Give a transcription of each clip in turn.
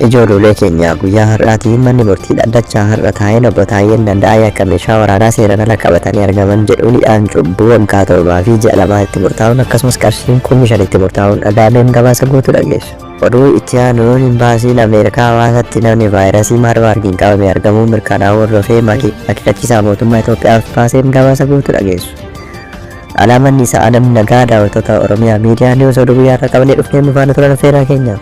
Ijoollee keenya guyyaa har'aatii manni murtii dhaddachaa har'a taa'een obbo Taayyeen Danda'aa akka meeshaa waraanaa seeraan ala qabatanii argaman jedhuun hidhaan cubbuu waggaa torbaa fi ji'a lamaa itti murtaa'uun akkasumas qarshiin kumni shan itti murtaa'uun dhagaameen gabaasa guutuu dhageessu. Oduu itti aanuun imbaasiin Ameerikaa Hawaasaatti namni vaayirasii Maarbaargiin qabame argamuu mirkanaa'uu hordofee akeekkachiisaa mootummaa Itoophiyaaf baaseen gabaasa guutuu dhageessu. Alaa manni isaa Adam Nagaa daawwattoota Oromiyaa miidiyaa niwus oduu guyyaa irraa qabnee dhufnee nu faana turan feeraa keenya.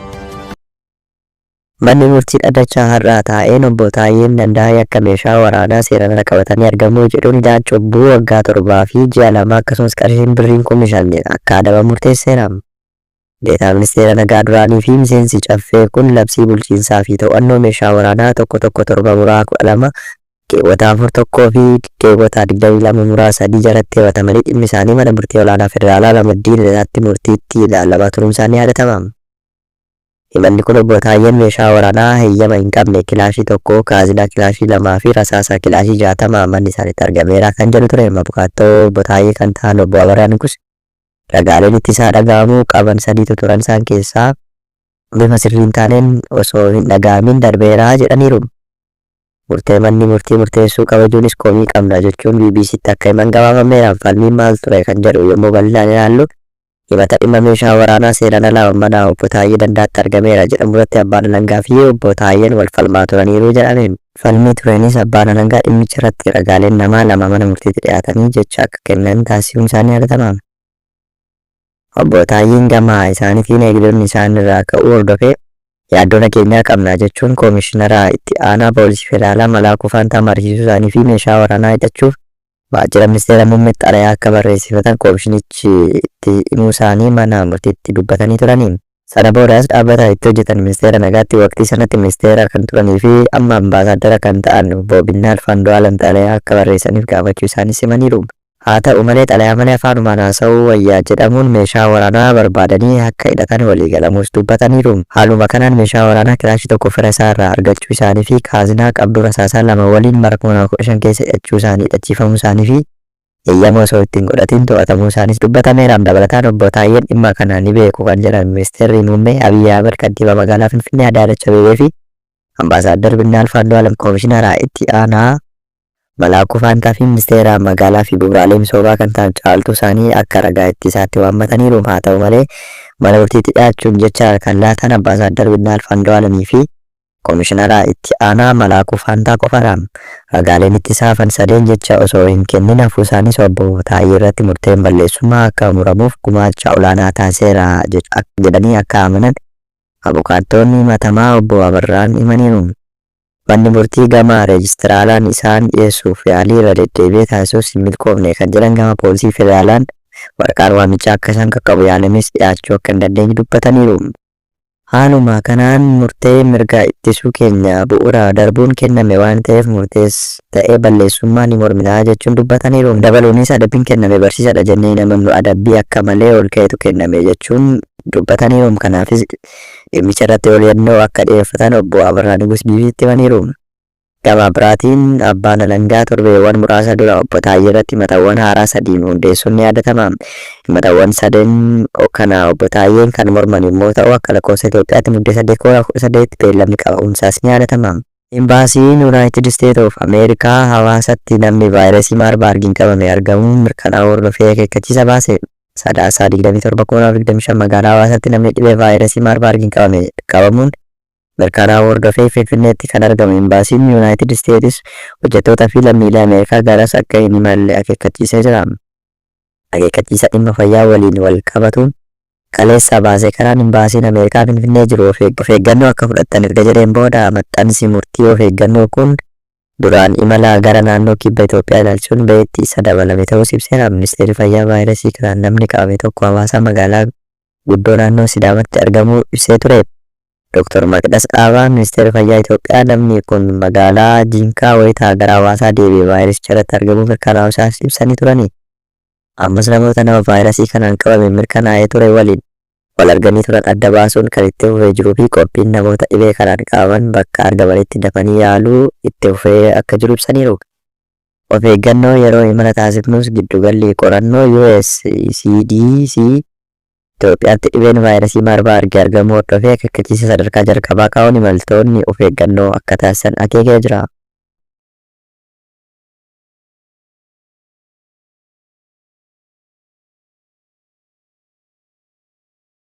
Manni murtii dhaddachaa har'aa taa'een obbo Taayyeen Dandaa'ee akka meeshaa waraanaa seeraan ala qabatanii argamuu jedhuun hidhaan cubbuu waggaa torbaa fi ji'a lama akkasumas qarshiin birriin kumni shan akka adabamu murteesseera. Deetaa Ministeera Nagaa duraanii fi miseensi Caffee kun labsii bulchiinsaa fi to'annoo meeshaa waraanaa 1 1 7 muraa 12 keewwata 4 1 fi keewwata 22 muraa 3 jalatti himatamanii dhimmi isaanii Mana Murtii Olaanaa Federaalaa Ramaddii Lidataatti murtiitti ilaalamaa turuun isaa ni yaadatama. Himanni kun Obbo Taayyeen meeshaa waraanaa heyyama hin qabne kilaashii tokko, kaazinaa kilaashii lamaa fi rasaasa kilaashii 60 manni isaaniitti argameera kan jedhu ture. Abukaattoo Obbo Taayyee kan ta'an Obbo Abarraa Nugus Ragaaleen ittisaa dhaga'amuu qaban sadiitu turan isaan keessaa bifa sirrii hin taaneen osoo hin dhaga'amiin darbeera jedhaniiru. Murtee manni murtii murteessuu kabajuunis komii qabna jechuun BBC'tti akka himan gabaafameera. Falmiin maal ture kan jedhu yommuu bal'inaan ilaallu himata dhimma meeshaa waraanaa seeraan alaa mana obbo Taayyee Dandaatti argameera jedhamurratti abbaan alangaa fi obbo Taayyeen wal falmaa turaniiru jedhame. Falmii tureenis Abbaan Alangaa dhimmicha irratti ragaaleen namaa lama mana murtiitti dhiyaatanii jecha akka kennan taasisuun isaa ni yaadatama. Obbo Taayyeen gama isaanitiin eegdonni isaan irraa ka'uu hordofee yaaddoo nageenyaa qabna jechuun Koomishinara Itti Aanaa Poolisii Federaalaa Malaakuu Faantaa mariisisuu isaanii fi meeshaa waraanaa hidhachuuf Waajjira Ministeera Muummeetti xalayaa akka barreessifatan komishinichi itti himuu isaanii mana murtiitti dubbatanii turani. Sana boodas dhaabbata itti hojjetan Ministeera Nagaatti waqtii sanatti ministeera kan turanii fi amma ambaasaaddara kan ta'an Obbo Binnaalf Andu'aalam xalayaa akka barreessaniif gaafachuu isaaniis himaniiru. Haa ta'u malee xalayaa malee afaanumaan haasa'uu wayya jedhamuun meeshaa waraanaa barbaadanii akka hidhatan waliigalamuus dubbataniiru. Haaluma kanaan meeshaa waraanaa kilaashii tokko fira isaa irraa argachuu isaanii fi kaaznaa qabduu rasaasaa lama waliin bara 2015 keessa hidhachuu isaanii, hidhachiifamuu isaanii fi eeyyama osoo itti hin godhatiin to'atamuu isaaniis dubbatameera. Dabalataan Obbo Taayyeen dhimma kana ni beeku kan jedhan Ministeerri Muummee Abiy Ahimad Kantiibaa Magaalaa Finfinnee Adaanach Abeebee fi Ambaasaaddar Binnaalf Andu'aalam Koomishinara Itti Aanaa Malaakuu Faantaafi Ministeera Magaalaafi Bu'uuraalee Misoomaa kan ta'an Caaltuu Saanii akka ragaa ittisaatti waammataniiru. Haata'u malee, mana murtiitti dhiyaachuun jecha kan laatan Ambaasaaddar Binnaalf Andu'aalamiifi Komishinara Itti Aanaa Malaakuu Faantaa qofadha. Ragaaleen ittisaa hafan sadeen jecha osoo hin kennin hafuusaaniis Obbo Taayyeerratti murteen balleessummaa akka muramuuf gumaacha olaanaa taasiseera jedhanii akka amanan abukaattoonni himatamaa Obbo Abarraan himaniiru. Manni murtii gama reejistiraalaan isaan dhiyeessuuf yaalii irra deddeebi'ee taasisus hin milkoofne kan jedhan gama poolisii federaalaan waraqaan waamichaa akka isaan qaqqabu yaalames dhiyaachuu akka hin dandeenye dubbataniiru. Haaluma kanaan murtee mirga ittisuu keenya bu'uura darbuun kenname waan ta'eef murtees ta'ee balleessummaa ni mormina jechuun dubbataniiru. Dabaluunis adabbiin kenname barsiisadha jennee hin amannu adabbii akka malee ol ka'etu kenname jechuun dubbataniiru. Kanaafis dhimmicha irratti oliyyannoo akka dhiyeeffatan obbo Abarraa Nugus BBCtti himaniiru. Gama biraatiin abbaan alangaa torbeewwan muraasa dura obbo Taayyee irratti himatawwan haaraa sadii hundeessuun ni yaadatama. Himatawwan sadeen kana obbo Taayyeen kan morman yommuu ta'u akka lakkoofsa Itoophiyaatti Muddee 8 2018 beellamni qabamuunsaas ni yaadatama. Imbaasiin Yunaayitid Isteet of Ameerikaa Hawaasatti namni vaayrasii Maarbaargiin qabame argamuun mirkanaa'uu hordofee akeekkachiisa baase. Sadaasa 27, 2025 magaalaa Hawaasaatti namni dhibee vaayrasii Maarbaargiin qabame qabamuun mirkanaa'uu hordofee Finfinneetti kan argamu Imbaasiin Yunaayitid Isteetis hojjettootaa fi lammiilee Ameerikaa garas akka hin imalle akeekkachiisee jira. Akeekkachiisa dhimma fayyaa waliin wal qabatu kaleessa baase kanaan Imbaasiin Ameerikaa Finfinnee jiru of eeggannoo akka fudhattan erga jedheen booda maxxansi murtii of eeggannoo kun duraan imala gara naannoo kibba Itoophiyaa ilaalchisuun ba'eetti isa dabalame ta'uus ibseera. Ministeerri Fayyaa vaayirasii kanaan namni qabame tokko hawaasaa magaalaa guddoo naannoo Sidaamatti argamuu ibsee ture. Doktar Maqdas Dhaabaa, Ministeerri Fayyaa Itoophiyaa namni kun magaalaa Jiinkaa wayita gara Hawaasaa deebi'e vaayirasicha irratti argamuu mirkanaa'uu isaas ibsanii turani. Ammas namoota nama vaayirasii kanaan qabame mirkanaa'ee ture waliin wal arganii turan adda baasuun kan itti fufee jiruu fi qophiin namoota dhibee kanaan qabaman bakka argamanitti dafanii yaaluu itti fufee akka jiru ibsaniiru. Of eeggannoo yeroo imala taasifnus giddugalli qorannoo US CDC Itoophiyaatti dhibeen vaayrasii Maarbaargi argamuu hordofee akeekkachiisa sadarkaa jalqabaa kaa'uun imaltoonni of eeggannoo akka taasisan akeekee jira.